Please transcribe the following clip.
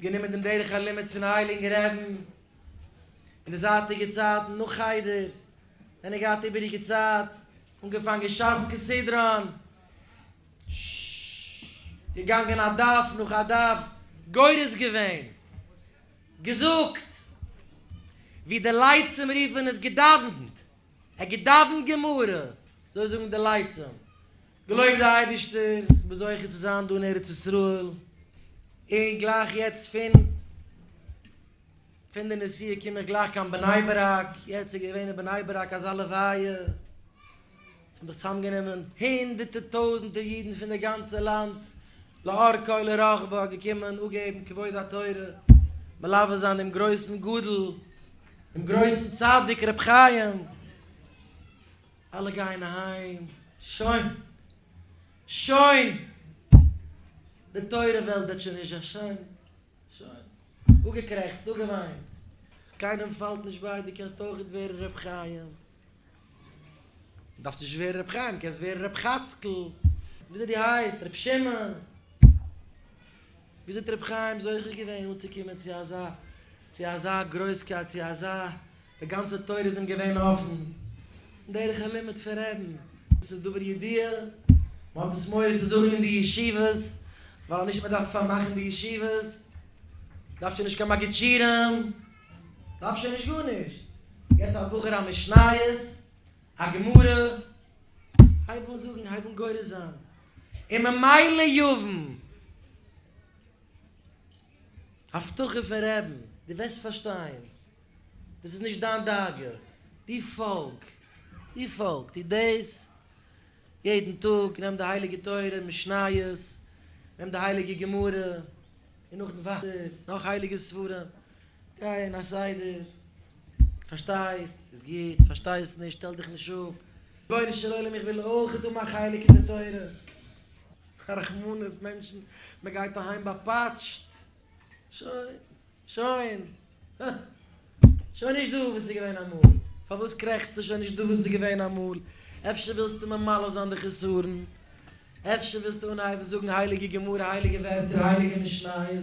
גענומען דעם דרך הלימוד פון הייליגן רעבן אין די זייטיגע צייטן נאך חדר ווען ער געהאט איבעריגע צייט, אנגעפאנגען שס כסדרן, געגאנגען א דף נאך א דף, גורס געווען, געזאגט ווי די לייצים רופן עס, געדאווענט, ער האט געדאווענט גמרא, אזוי זאגן די לייצים, געלויבט די אייבישטער כ'בין זוכה צו זיין דא אין ארץ ישראל, און גלייך יעצט פון פון די נסיעה קום איך גלייך קיין בני ברק, יעצט איז געווען אין בני ברק אזא לוויה, עס האבן זיך צוזאם גענומען הונדערטע טויזענטע אידן פון די גאנצע לאנד לאורכה ולרוחבה געקומען אפגעבן כבוד התורה, מלווה זיין דעם גרויסן גדול, דעם גרויסן צדיק ר' חיים. אלע גייען אהיים, שוין, שוין, די תורה וועלט וועט שוין נישט זיין, שוין, שוין, אפגעקרעכצט, אפגעוויינט, קיינעם פאלט נישט ביי, דו קענסט אויכעט ווערן ר' חיים, דארפסט נישט ווערן ר' חיים, קענסט ווערן ר' חאצקל, וויאזוי דו הייסט, ר' שמעון. וויאזוי האט רבי חיים זוכה געווען אנצוקומען צו אזא צו אזא גרויסקייט צו אזא די גאנצע טויער איז אים געווען אפן דרך הלימוד פון רעדן דאס איז דבר ידיעה מען האט עס מורא צו זאגן אין די ישיבות ווייל נישט מען דארף פארמאכן די ישיבות דארף שוין נישט קיין מגיד שיעורים דארף שוין נישט גארנישט געט א בחור א משניות. א גמרא, הייב אן זאגן, הייב אן גורס זיין, און ממילא יבין, הבטחה פון רעבן, דו וועסט פארשטיין, דאס איז נישט דיין דאגה, דו פאלג, דו פאלג, טו דאס יעדן טאג, נעם די הייליגע תורה, משניות, נעם די הייליגע גמרא, און נאכדעם ווייטער, נאך הייליגע ספרים, גיי אין א סדר, פארשטייסט איז גוט, פארשטייסט נישט שטעל דיך נישט אפ. רבונו של עולם איך וויל אויך דא מיין חלק אין די תורה. א רחמנות מענטשן, מען גייט אהיים באפאטשט. שוין, שוין, הא. שוין נישט דא וואס איז געווען אמאל. פארוואס קרעכצטו שוין נישט דא וואס איז געווען אמאל? אפשר ווילסטו ממלא זיין די חסרון? אפשר ווילסטו אנהייבן זאגן הייליגע גמרא, הייליגע ווערטער, הייליגע משניות?